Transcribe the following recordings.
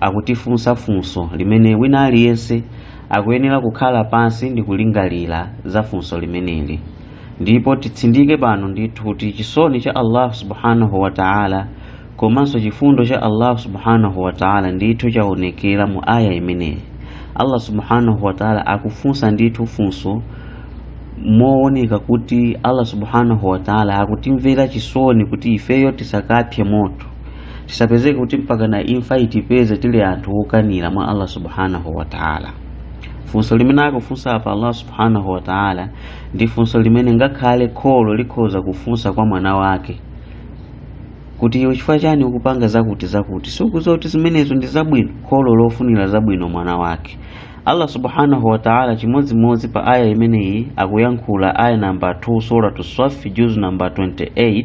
akutifunsa funso limene wina aliyense akuyenera kukhala pansi ndi kulingalira za funso limeneli ndipo titsindike pano ndithu kuti chisoni cha allah subhanahu wa taala komanso chifundo cha allah subhanahu wa taala ndithu chaonekera mu aya imeneyi allah subhanahu wa taala akufunsa ndithu funso mooneka kuti allah subhanahu wa taala akutimvera chisoni kuti ifeyo tisakapse moto tisapezeke kuti mpakana imfa itipeze tili anthu okanira mwa allah subhanahu wa taala funso limene akufunsa apa allah subhanahu wa taala ndi funso limene ngakhale kholo likhoza kufunsa kwa mwana wake kuti iwe chifukwa chani ukupanga zakuti zakuti sukudziwa kuti zimenezo ndi zabwino kholo lofunira zabwino mwana wake allah subhanahu wa taala chimodzimodzi pa aya imeneyi akuyankhula aya namba 2 suratu swafi juzu namba 28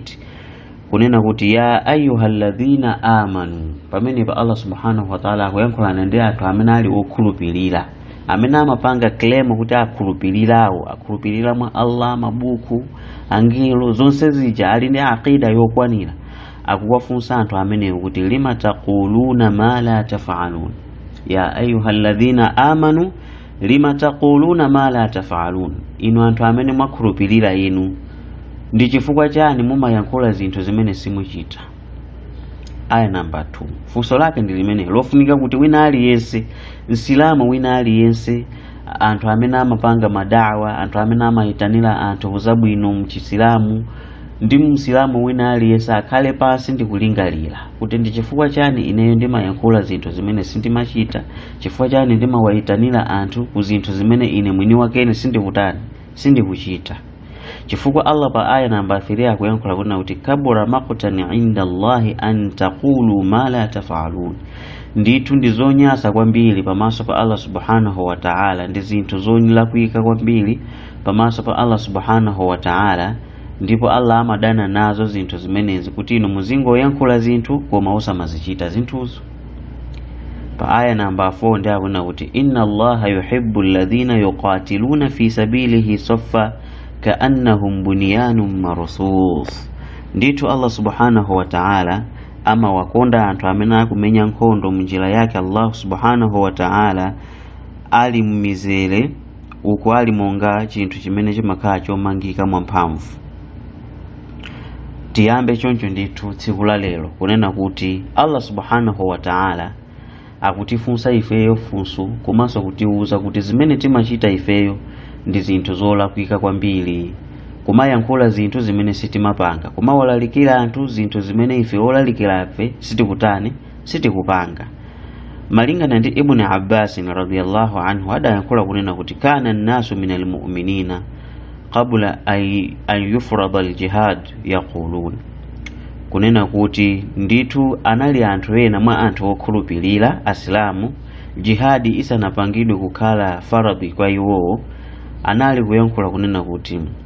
kunena kuti ya ayuha alladhina amanu pamenepa allah subhanahu wataala akuyankhulana ndi anthu amene ali okhulupirira amene amapanga claim kuti akhulupirirawo akhulupirira mwa allah mabuku angelo zonse zija ali ndi aqida yokwanira akuwafunsa anthu amenewo kuti lima taquluna ma la tafalun ya ayuha alladhina amanu lima taquluna ma la tafalun inu anthu amene mwakhulupirira inu ndi chifukwa chani mumayankhula zinthu zimene simuchita aya namba 2 funso lake ndi limenelo lofunika kuti wina aliyense msilamu wina aliyense anthu amene amapanga madawa anthu amene amayitanira anthu kuzabwino mchisilamu ndi msilamu wina aliyense akhale pansi ndikulingalira kuti ndi chifukwa chani ineyo ndimayankhula zinthu zimene sindimachita chifukwa chani ndimawayitanira anthu ku zinthu zimene ine mwini wakene sindikutani sindikuchita chifukwa allah pa aya namba 3 akuyankhula kunena kuti kabura maqtan inda allahi an taqulu ma la tafalun ndithu ndi zonyasa kwambiri pamaso pa allah subhanahu wa taala ndi zinthu zolakwika kwambiri pamaso pa allah subhanahu wa taala ndipo allah amadana nazo zinthu zimenezi kuti inu muzingoyankhula zinthu koma osamazichita zinthuzo pa aya namba 4 nde akunena kuti inna allaha yuhibbu alladhina yuqatiluna fi sabilihi saffa kaannahum bunyanun marsus ndithu allah subhanahu wa ta'ala amawakonda anthu amene akumenya nkhondo munjira yake allah subhanahu wa ta'ala ali mmizere uku ali monga chinthu chimene chimakhala chomangika mwamphamvu tiyambe choncho ndithu tsiku la lero kunena kuti allah subhanahu wa taala akutifunsa ifeyo funso komanso kutiwuza kuti zimene timachita ifeyo ndi zinthu zolakwika kwambiri kumayankhula zinthu zimene sitimapanga kumawalalikira anthu zinthu zimene ife olalikirafe sitikutani sitikupanga malingana ndi ibni abbasin radiallahu anhu adayankhula kunena kuti kana nnasu minal muminina qabla an yufrada aljihad yaqulun kunena kuti ndithu anali anthu ena mwa anthu okhulupirira asilamu jihadi isanapangidwe kukhala faradhi kwa iwowo anali kuyankhula kunena kuti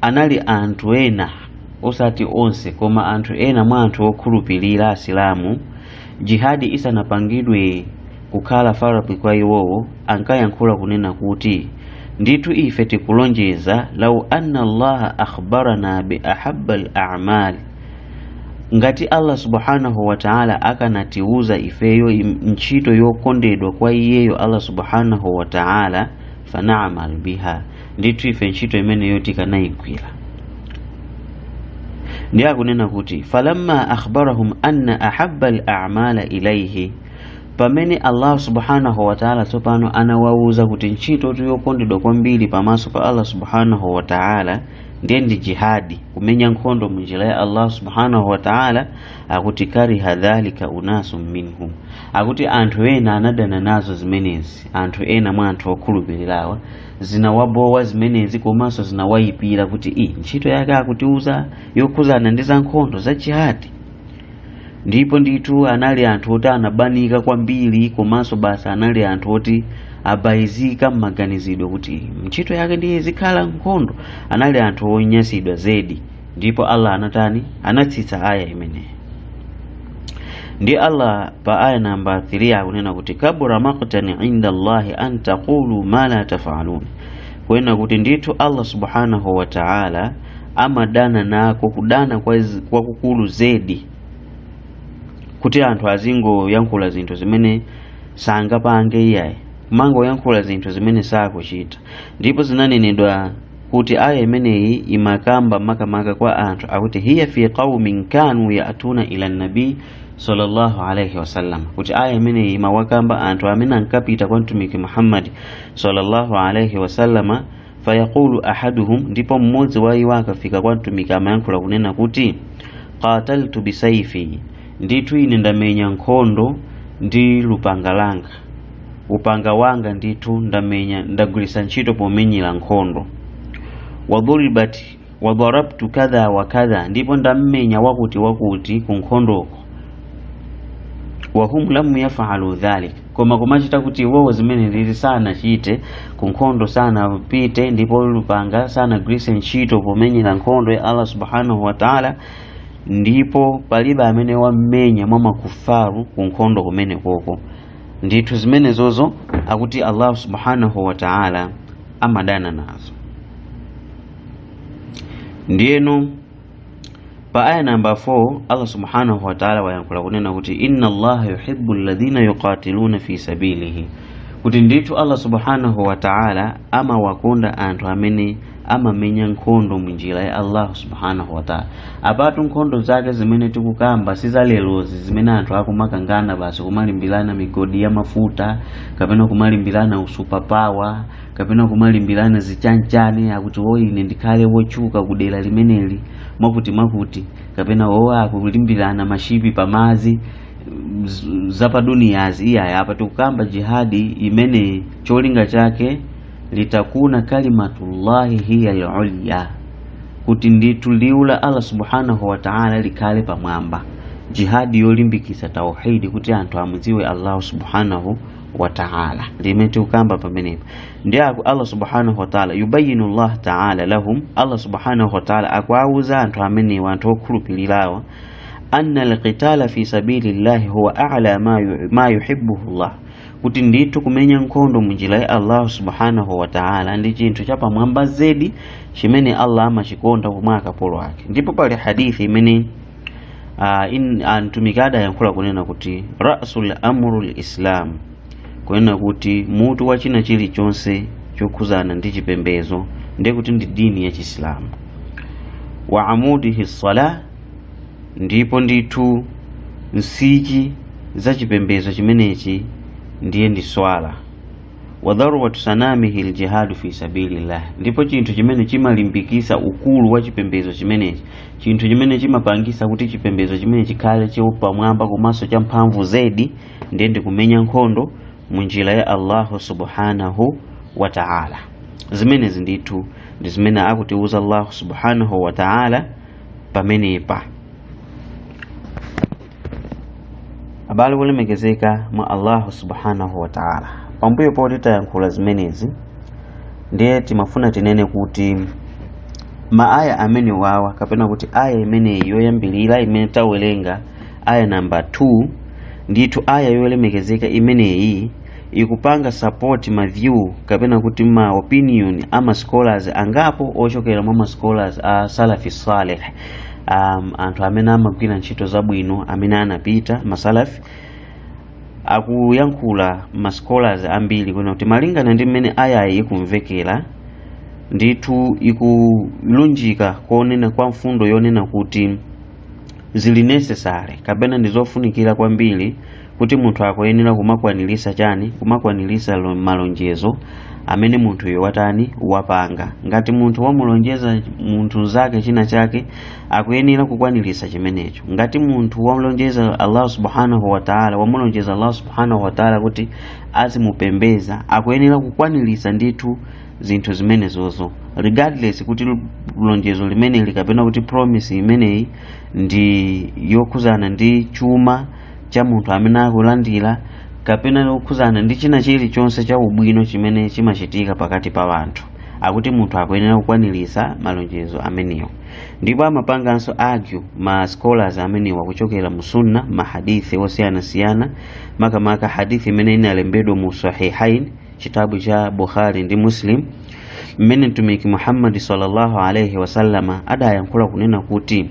anali anthu ena osati onse koma anthu ena mwa anthu okhulupirira asilamu jihadi isanapangidwe kukhala faradhi kwa iwowo ankayankhula kunena kuti ndithu ife tikulonjeza lau anna allaha akhbarana bi ahabba al a'mal ngati allah subhanahu wa ta'ala akanatiuza ifeyo ntchito yokondedwa kwa iyeyo allah subhanahu wa ta'ala fana'mal biha ndithu ife ntchito imeneyo tikanayigwira ndiye akunena kuti falamma akhbarahum anna ahabba al-a'mala ilayhi pamene allah subhanahu wataala tsopano anawawuza kuti ntchito yokondedwa kwambiri pamaso pa allah subhanahu wataala ndiye ndi jihadi kumenya nkhondo munjira ya allah subhanahu wataala akuti kariha dhalika unasu minhum akuti anthu ena anadana nazo zimenezi anthu ena mwa anthu okhulupirirawa zinawabowa zimenezi komanso zinawayipira kuti ii ntchito yake akutiuza yokhuzana ndi zankhondo za jihadi ndipo ndithu anali anthu oti anabanika kwambiri komanso basi anali anthu oti abayizika m'maganizidwe kuti ntchito yake ndiye zikhala nkhondo anali anthu onyasidwa zedi ndipo allah anatani anatsitsa aya imeneyi ndi allah pa aya namba 3 akunena kuti kabura maqtan inda allahi an taqulu ma la tafalun kuena kuti ndithu allah subhanahu wa taala amadana nako kudana kwakukulu zedi kuti anthu azingoyankhula zinthu zimene sangapange iyayi kumangoyankhula zinthu zimene sakuchita ndipo zinanenedwa kuti aya imeneyi imakamba makamaka kwa anthu akuti hiya fi qaumin kanu yatuna ila nabi sallallahu alaihi wasallam kuti aya imeneyi imawakamba anthu amene ankapita kwa mtumiki muhammadi sallallahu alaihi wasallama fayaqulu ahaduhum ndipo mmodzi wa iwo akafika kwa mtumiki amayankhula kunena kuti qataltu bisaifi ndithu ine ndamenya nkhondo ndi lupanga langa upanga wanga ndithu ndamenya ndagwiritsa ntchito pomenyera nkhondo wadharabat wadharabtu kadha wa kadha ndipo ndammenya wakuti wakuti ku nkhondoko wahum lam yafalu dhalik koma kumachita kuti iwowo zimenezi sanachite ku nkhondo sanapite ndipo lupanga sanagwiritse ntchito pomenyera nkhondo ya allah subhanahu wa taala ndipo palibe amene wammenya mwa makufaru ku nkhondo kumenekoko ndithu zimenezozo akuti allahu subhanahu wa taala amadana nazo ndiyeno pa aya namba 4 allah subhanahu wa taala wayankhula kunena kuti inna allaha yuhibbu alladhina yuqatiluna fi sabilihi kuti ndithu allah subhanahu wa taala amawakonda anthu amene amamenya nkhondo munjira ya allahu subhanahu wataala apatu nkhondo zake zimene tikukamba sizalerozi zimene anthu akumakangana basi kumalimbirana migodi ya mafuta kapena kumalimbirana usupapawa kapena kumalimbirana zichanchani akuti o ine ndikhale wotchuka kudera limeneli mwakutimwakuti kapena o akulimbirana mashipi pamazi z- zapaduniyazi iyayi apa tikukamba jihadi imene cholinga chake litakuna kalimatullahi hiya al-ulya kuti ndithu liwu la Allah subhanahu wa ta'ala likhale pamwamba jihadi yolimbikitsa tauhidi kuti anthu amudziwe Allah subhanahu wa ta'ala limene tikukamba pamenepo ndi aku Allah subhanahu wa ta'ala yubayinu Allah ta'ala lahum Allah subhanahu wa ta'ala akuwauza anthu amenewa anthu okhulupirirawa anna alqitala fi sabilillahi huwa a'la ma yu- ma yuhibbuhu Allah kuti ndithu kumenya nkhondo munjira ya allahu subhanahu wa taala ndi chinthu chapamwamba zedi chimene allah amachikonda mwa akapolo ake ndipo pali hadithi imene ah, in- ah, mtumiki adayankhula kunena kuti ra'sul amri lislam kunena kuti mutu wa china chilichonse chokhuzana ndi chipembezo ndiye kuti ndi dini ya chisilamu wa amudihi salah ndipo ndithu nsichi za chipembedzo chimenechi ndiye ndi swala wadharwatu sanamihi ljihadu fi sabilillah ndipo chinthu chimene chimalimbikisa ukulu wa chipembedzo chimenechi chinthu chimene chimapangisa kuti chipembedzo chimene chikhale chopamwamba komanso cha mphamvu zedi ndiye ndikumenya nkhondo mu njira ya allahu subhanahu wa taala zimenezi ndithu ndi zimene akutiuza allahu subhanahu wa taala pamenepa abale olemekezeka mwa allahu subhanahu wa taala pambuyo poti tayankhula zimenezi ndiye timafuna tinene kuti maaya amenewawa kapena kuti aya imeneyi yoyambirira imene tawerenga aya namba 2 ndithu aya yolemekezeka imeneyi ikupanga support ma view kapena kuti ma opinion a ma scholars angapo ochokera mwa ma scholars a salafi saleh um, anthu amene amagwira ntchito zabwino amene anapita masalafi akuyankhula ma scholars ambiri kunena kuti malingana ndi mmene aya yi ikumvekera ndithu ikulunjika kunena kwa mfundo yonena kuti zili necessary kapena ndi zofunikira kwambiri kuti munthu akuyenera kumakwanirisa chani kumakwanirisa lo- malonjezo amene munthuyo watani wapanga ngati munthu wamulonjeza munthu zake china chake akuyenera kukwanirisa chimenecho ngati munthu wamulonjeza allah subhanahu wataala wamulonjeza allah subhanahu wataala kuti azimupembeza akuyenera kukwanirisa ndithu zinthu zimenezozo regardless kuti l- lonjezo limeneli kapena kuti promise imeneyi ndi yokhuzana ndi chuma cha munthu amene akulandira kapena yokhudzana ndi china chilichonse cha ubwino chimene chimachitika pakati pa anthu akuti munthu akuyenera kukwaniritsa malonjezo amenewo ndipo amapanganso argue ma scholars amenewa kuchokera mu sunna ma hadithi osiyanasiyana makamaka hadithi imene inalembedwa mu sahihain chitabu cha bukhari ndi muslim mmene mtumiki muhammadi sallallahu alaihi wasallama adayankhula kunena kuti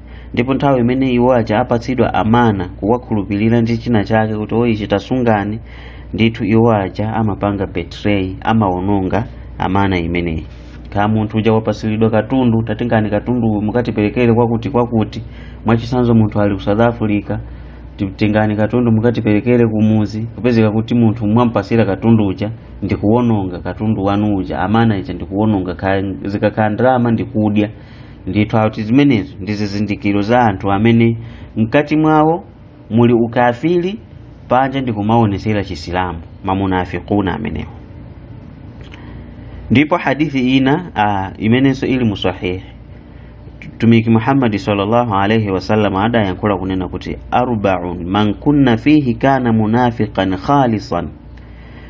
ndipo nthawi imene iwo aja apatsidwa amana kuwakhulupirira ndi china chake kuti o ichi tasungani ndithu iwo aja amapanga betray amawononga amana imeneyi kaya munthu uja wapasiridwa katundu tatengani katundu mukatiperekere kwakuti kwakuti mwachisanzo munthu ali ku south africa titengereni katundu mukatiperekere kumuzi kupezeka kuti munthu mwampasira katundu uja ndikuwononga katundu wanu uja amana ija ndikuwononga kaya zikakhala ndalama ndikudya ndithu akuti zimenezo ndi zizindikiro za anthu amene mkati mwawo muli ukafiri panja ndi kumaonesera chisilamu mamunafikuna amenewo ndipo hadithi ina ah, imenenso ili mu sahihi mtumiki muhammadi sallallahu alaihi wasallam adayankhula kunena kuti arbaun man kunna fihi kana munafiqan khalisan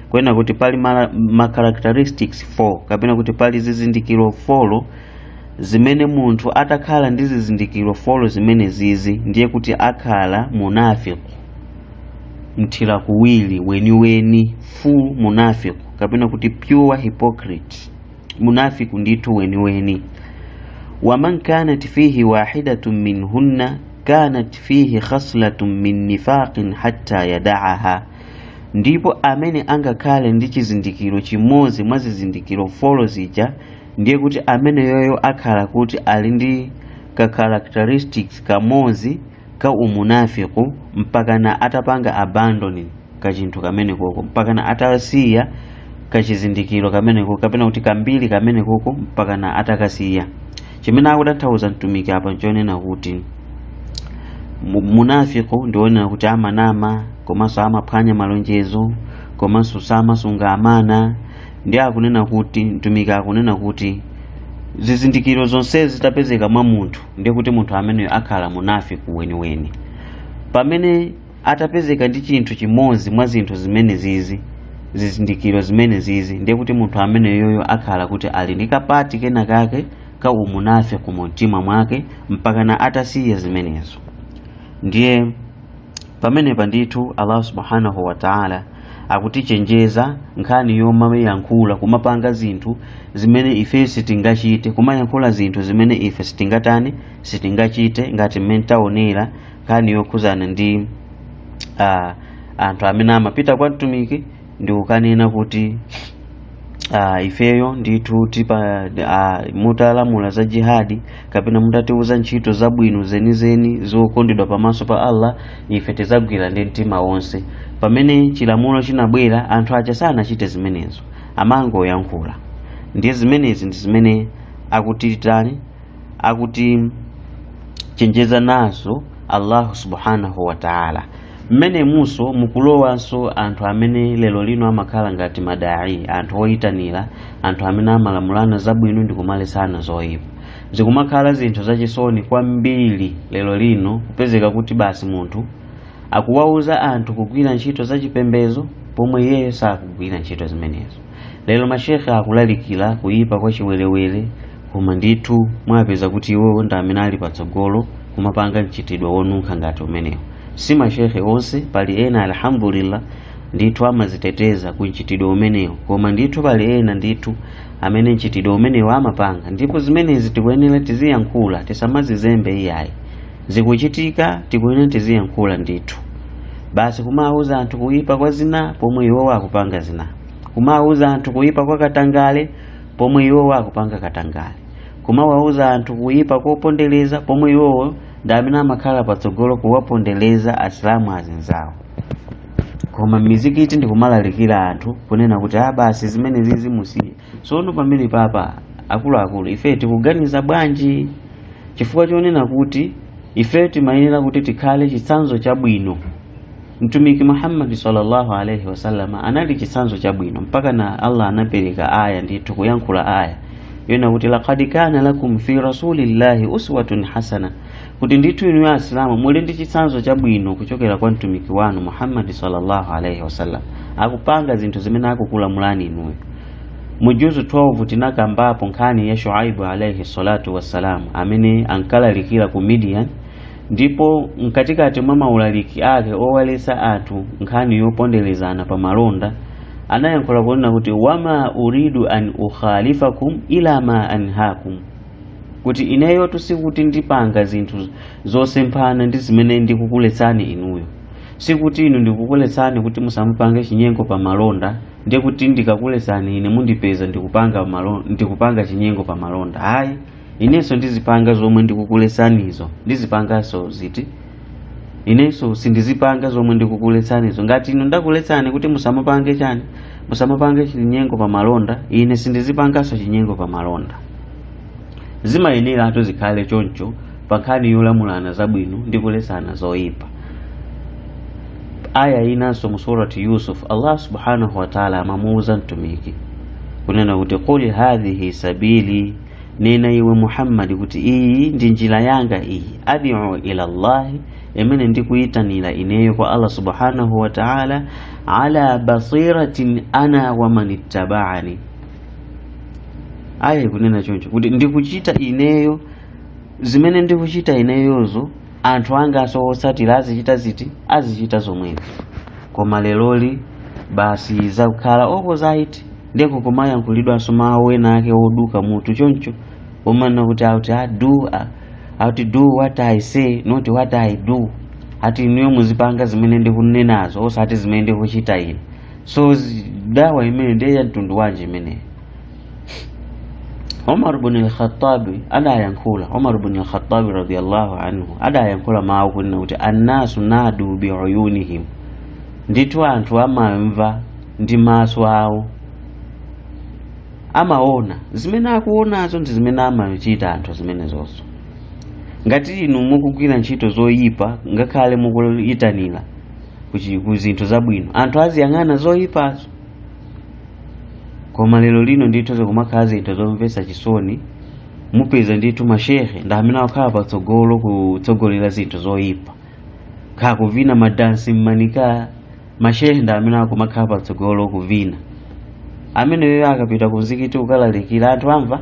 kunena kuti pali mara- ma characteristics 4 kapena kuti pali zizindikiro 4 zimene munthu atakhala ndi zizindikiro folo zimenezizi ndiye kuti akhala munafiku mthira kuwiri weniweni full munafiku kapena kuti pure hypocrite munafiku ndithu weniweni waman kanat fihi wahidatun minhunna kanat fihi khaslatun min nifaqin hatta yadaaha ndipo amene angakhale ndi chizindikiro chimodzi mwa zizindikiro folo zija ndiye kuti ameneyoyo akhala kuti ali ndi ka characteristics kamodzi ka umunafiku mpakana atapanga abandon kachinthu kamene koko mpakana atasiya kachizindikiro kamene koko kapena kuti kambiri kamene koko mpakana atakasiya chimene akutanthauza mtumiki apa nchonena kuti mu- munafiku ndi onena kuti amanama komanso amaphwanya malonjezo komanso samasunga amana ndiye akunena kuti mtumiki akunena kuti zizindikiro zonsezi zitapezeka mwa munthu ndiye kuti munthu ameneyo akhala munafiki weniweni pamene atapezeka ndi chinthu chimodzi mwa zinthu zimene zizi zizindikiro zimene zizi ndiye kuti munthu ameneyoyo akhala kuti ali ndi kapati kena kake ka umunafiki mu mtima mwake mpakana atasiya zimenezo ndiye pamenepa ndithu allah subhanahu wataala akutichenjeza nkhani yomayankhula kumapanga zinthu zimene ife sitingachite kumayankhula zinthu zimene ife sitingatani sitingachite ngati mmene taonera nkhani yokhuzana ndi uh, anthu amene amapita kwa mtumiki ndi kukanena kuti ah, ifeyo ndithu tipa ah, mutalamula za jihadi kapena mutatiuza ntchito zabwino zenizeni zokondedwa pamaso pa allah ife tizagwira ndi mtima wonse pamene chilamulo chinabwera anthu aja sanachite zimenezo amangoyankhula ndiye zimenezi ndi zimene akuti titani akutichenjeza nazo allahu subhanahu wa taala mmenemunso mukulowanso anthu amene lero lino amakhala ngati madai anthu oyitanira anthu amene amalamulana zabwino ndi kumaletsana zoyipa zikumakhala zinthu zachisoni kwambiri lero lino kupezeka kuti basi munthu akuwauza anthu kugwira ntchito zachipembezo pomwe iyeyo sakugwira ntchito zimenezo lero mashekhe akulalikira kuyipa kwa chiwerewere koma ndithu mwapeza kuti iwowo ndi amene ali patsogolo kumapanga mchitidwe onunkha ngati umenewo si mashekhe onse pali ena alhamdulillah ndithu amaziteteza ku mchitidwe umenewo koma ndithu pali ena ndithu amene mchitidwe umenewo amapanga ndipo zimenezi tikuyenera tiziyankhula tisamazizembe iyayi zikuchitika tikuyenera tiziyankhula ndithu basi kumawuza anthu kuyipa kwa zina pomwe iwowo akupanga zina kumawuza anthu kuyipa kwa katangale pomwe iwowo akupanga katangale kumawauza anthu kuyipa kopondereza pomwe iwowo ndi amene amakhala patsogolo kuwapondereza asilamu azinzawo kuma mizikiti ndikumalalikira anthu kunena kuti ah, basi zimene zizi musiye sono pamene papa akuluakulu ife tikuganiza bwanji chifukwa chonena kuti ife timayenera kuti tikhale chitsanzo chabwino Mtumiki Muhammad sallallahu alaihi wasallam anali chitsanzo chabwino mpakana Allah anapereka aya ndithu kuyankhula aya yonena kuti laqad kana lakum fi rasulillahi uswatun hasana kuti ndithu inu asilamu muli ndi chitsanzo chabwino kuchokera kwa mtumiki wanu Muhammad sallallahu alaihi wasallam akupanga zinthu zimene akukulamulani inuyo mu juzu 12 tinakambapo nkhani ya Shuaibu alaihi salatu wassalam amene ankalalikira ku Midian ndipo mkatikati mwa maulaliki ake owaletsa anthu nkhani yoponderezana pa malonda anayankhula kunena kuti wama uridu an ukhalifakum ila ma anhakum kuti ineyotu sikuti ndipanga zinthu zosemphana ndi zimene ndikukuletsani inuyo sikuti inu ndikukuletsani kuti musamupange chinyengo pa malonda ndiye kuti ndikakuletsani ine mundipeza ndikupanga chinyengo pa malonda ayi inenso ndizipanga zomwe ndikukuletsanizo ndizipanganso ziti inenso sindizipanga zomwe ndikukuletsanizo ngati inu ndakuletsani kuti musamapange chani musamapange chinyengo pa malonda ine sindizipanganso chinyengo pa malonda zimayeneratu zikhale choncho pa nkhani yolamulana zabwino ndi kuletsana zoyipa aya inanso mu surati yusuf allah subhanahu wataala amamuwuza mtumiki kunena kuti qul hadhihi sabili nena iwe muhammadi kuti iyi ndi njira yanga iyi adu ila llahi imene ndikuyitanira ineyo kwa allah subhanahu wa taala ala basiratin ana waman ittabaani aya ikunena choncho kuti ndikuchita ineyo zimene ndikuchita ineyozo anthu angaso otsatira azichita ziti azichita zomwezi koma leroli basi zakukhala opposite ndiye kukumayankhulidwanso mawu ena ake oduka mutu choncho omanena kuti ati do ati do what i say not what i do ati inuyo muzipanga zimene ndikunenazo osati zimene ndikuchita ine so zi- dawa imene ndiye ya mtundu wanji imeneyo Umar ibn al-Khattab adayankhula Umar ibn al-Khattab radiyallahu anhu adayankhula mawu kunena kuti annasu nadu bi uyunihim ndithu anthu amamva ndi maso awo amaona zimene akuonazo ndi zimene amachita anthu zimenezozo ngati inu mukugwira ntchito zoyipa ngakhale mukuyitanira kuchi- ku zinthu zabwino anthu aziyang'ana zoyipazo koma lero lino ndithu zikumakhala zinthu zomvetsa chisoni mupeza ndithu mashehe ndi amene akukhala patsogolo kutsogolera zinthu zoyipa kha kuvina madansi mmanika mashehe ndi amene akumakhala patsogolo kuvina ameneyo akapita ku mzikiti ukalalikira anthu amva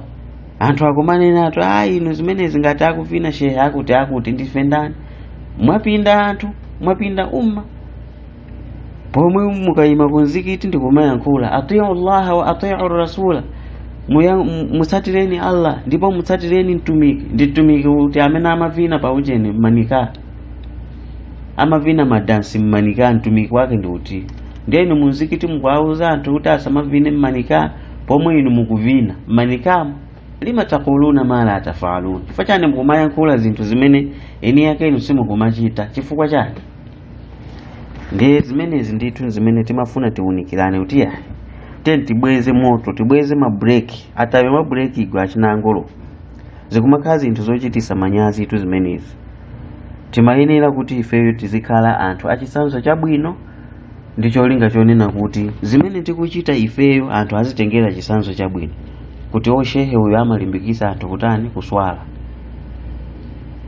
anthu akumanena atu a inu zimenezi ngati akuvina shehe akuti akuti ndife ndani mwapinda anthu mwapinda umma pomwe mukayima kumzikiti ndi kumayankhula atiu llaha wa atiu rasula Muya- mu- mutsatireni allah ndipo mutsatireni mtumiki ndi mtumiki uti amene amavina pa ujeni mmanika amavina madansi mmanika mtumiki wake ndi uti ndiye inu mumzikiti mukuwauza anthu kuti asamavine mmanika pomwe inu mukuvina mmanikamo lima takuluna ma la tafaluna chifukwa chani mukumayankhula zinthu zimene eni yake inu simukumachita chifukwa chani ndiye zimenezi ndithu zimene timafuna tiunikirane kuti tieni tibweze moto tibweze mabuleki atape mabuleki igwe achina angolo zikumakhala zinthu zochitisa manyazi tu zimenezi timayenera kuti ifeyo tizikhala anthu achitsanzo chabwino ndi cholinga chonena kuti zimene tikuchita ifeyo anthu azitengera chitsanzo chabwino kuti shehe uyo amalimbikisa anthu kutani kuswala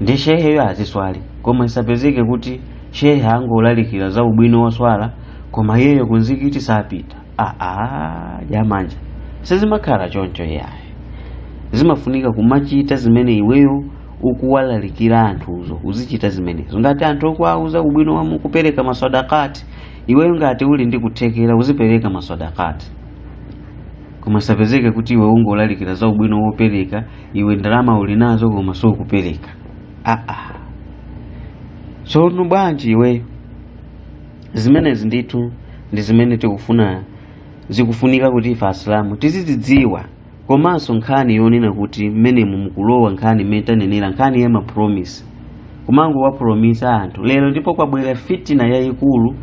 ndi sheheyo aziswali koma isapezeke kuti shehe angolalikira za ubwino wa swala koma iyeyo kunzikiti sapita aa jamani sizimakhala choncho yaye zimafunika kumachita zimene iweyo ukuwalalikira anthuzo uzichita zimenezo ngati anthu ukuwauza ubwino wa mu- kupereka maswadakati iweyo ngati uli ndi kuthekera uzipereka maswadakati koma isapezeke kuti iwe ungolalikira za ubwino wopereka iwe ndalama uli nazo koma sukupereka aa tsono bwanji iweyo zimenezi ndithu ndi zimene tikufuna zikufunika kuti ife asilamu tizizidziwa komanso nkhani yonena kuti mmenemu mukulowa nkhani imene tanenera nkhani ya mapromise kumangowapromisa anthu lero ndipo kwabwera fitina yayikulu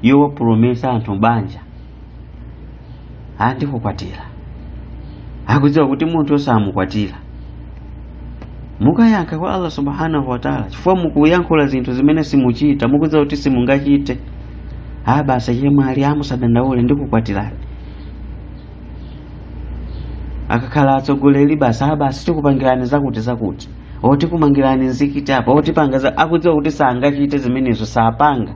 yowapromisa anthu banja andikukwatira akudziwa kuti munthuyo samukwatira mukayankha kwa allah subhanahu wataala chifukwa mukuyankhula zinthu zimene simuchita mukudziwa kuti simungachite a basi chemwali musadandaule ndikukwatirani akakhala atsogoleri basi a basi tikupangirani zakuti zakuti o tikumangirani nzikiti apa o tipanga za- akudziwa kuti sangachite zimenezo sapanga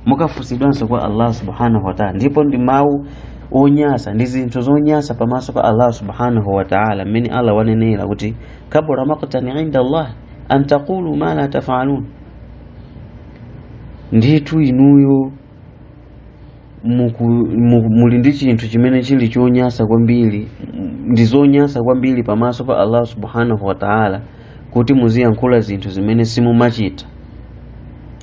mukafunsidwanso kwa allah subhanahu wataala ndipo ndi mawu onyasa ndi zinthu zonyasa pamaso pa allah subhanahu wataala mmene allah wanenera kuti kabura maktan inda allah an taqulu ma la tafalun ndithu inuyo muku- mu- muli ndi chinthu chimene chili chonyasa kwambiri m- ndi zonyasa kwambiri pamaso pa allah subhanahu wataala kuti muziyankhula zinthu zimene simumachita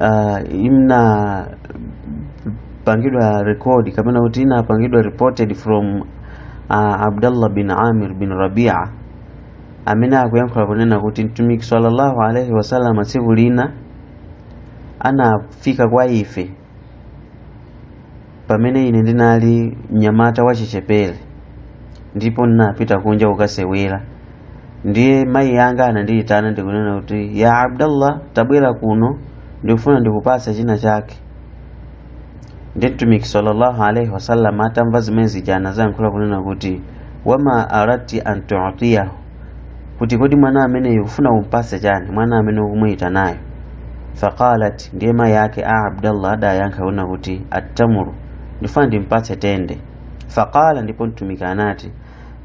uh, inapangidwa rekodi kapena kuti inapangidwa reported from uh, abdallah bin amir bin rabia amene akuyankhula kunena kuti mtumiki sallallahu alaihi wasallam tsiku lina anafika kwa ife pamene ine ndinali mnyamata wachichepere ndipo ndinapita kunja kukasewera ndiye mayi anga anandiyitana ndikunena kuti ya abdallah tabwera kuno ndikufuna ndikupatse china chake ndiye mtumiki sallallahu alaihi wasallam atamva zimene zija anadzayankhula kunena kuti wama aradti an tutiyahu kuti kodi mwana ameneyo ufuna umpatse chani mwana amene ukumuyitanayo faqalat ndiye mayi ake a abdallah adayankha kunena kuti attamru ndifuna ndimpatse tende faqala ndipo mtumiki anati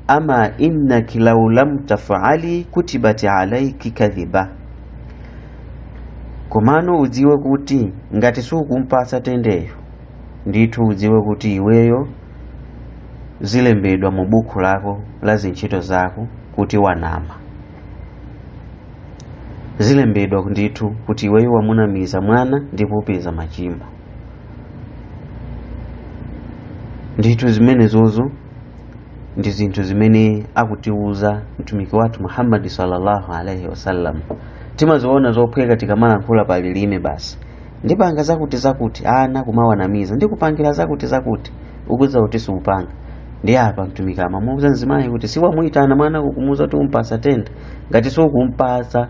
ama innaki lau lam tafali kutibati alaiki kadhiba komano udziwe kuti ngati sukumpatsa tendeyo ndithu udziwe kuti iweyo zilembedwa mu buku lako la zintchito zako kuti wanama zilembedwa ndithu kuti iweyo wamunamiza mwana ndipo upeza machimo ndithu zimenezozo ndi zinthu zimene akutiuza mtumiki wathu muhammadi sallallahu alaihi wasallam timaziona zophweka tikamalankhula pa lilime basi ndipanga zakuti zakuti ana kumawanamiza ndikupangira zakuti zakuti ukudziwa kuti siupanga ndiye apa mtumiki amamuuza mzimayi kuti siwamuyitana mwana kumuuza kuti umpasa tende ngati siukumpasa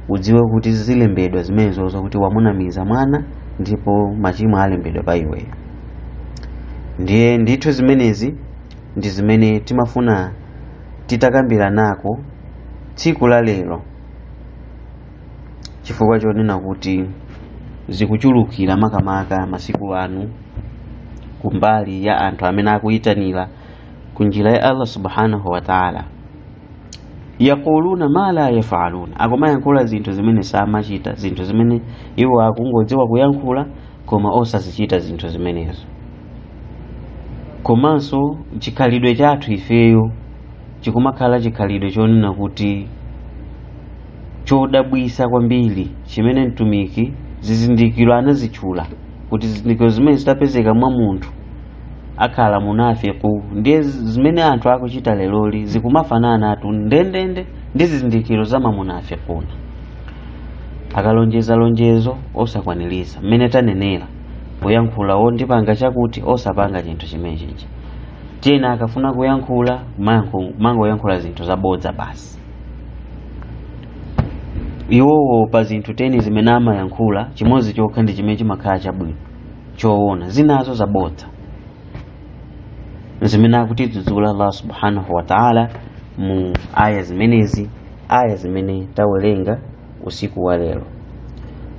udziwe kuti zilembedwa zimenezozo kuti wamunamiza mwana ndipo machimo alembedwa pa iweyo ndiye ndithu zimenezi ndi zimene timafuna titakambiranako tsiku la lero chifukwa chonena kuti zikuchulukira makamaka masiku ano kumbali ya anthu amene akuyitanira ku njira ya allah subhanahu wa taala yaquluna ma la yafaluna akumayankhula zinthu zimene samachita zinthu zimene iwo akungodziwa kuyankhula koma osazichita zinthu zimenezo komanso chikhalidwe chathu ifeyo chikumakhala chikhalidwe chonena kuti chodabwisa kwambiri chimene mtumiki zizindikiro anazitchula kuti zizindikiro zimene zitapezeka mwa munthu akhala munafiku ndiye zimene anthu akuchita leroli zikumafananatu ndendende ndi zizindikiro za mamunafikuna akalonjeza lonjezo osakwaniriza mmene tanenera kuyankhula o ndipanga chakuti osapanga chinthu chimene chichi kapena akafuna kuyankhula amangoyankhula zinthu zabodza basi iwowo pa zinthu teni zimene amayankhula chimodzi chokha ndi chimene chimakhala chabwino choona zinazo zabodza zimene akutidzudzula allah subhanahu wa taala mu aya zimenezi aya zimene tawerenga usiku wa lero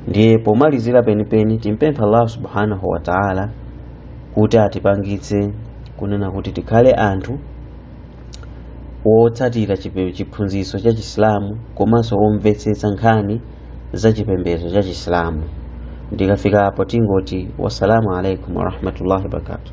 ndiye pomalizira penipeni timpempha allah subhanahu wa taala kuti atipangitse kunena kuti tikhale anthu wotsatira chipe- chiphunzitso cha chisilamu komanso omvetsetsa nkhani za chipembedzo cha chisilamu ndikafika apo tingoti wassalamu alaikum warahmatullahi wabarakatuh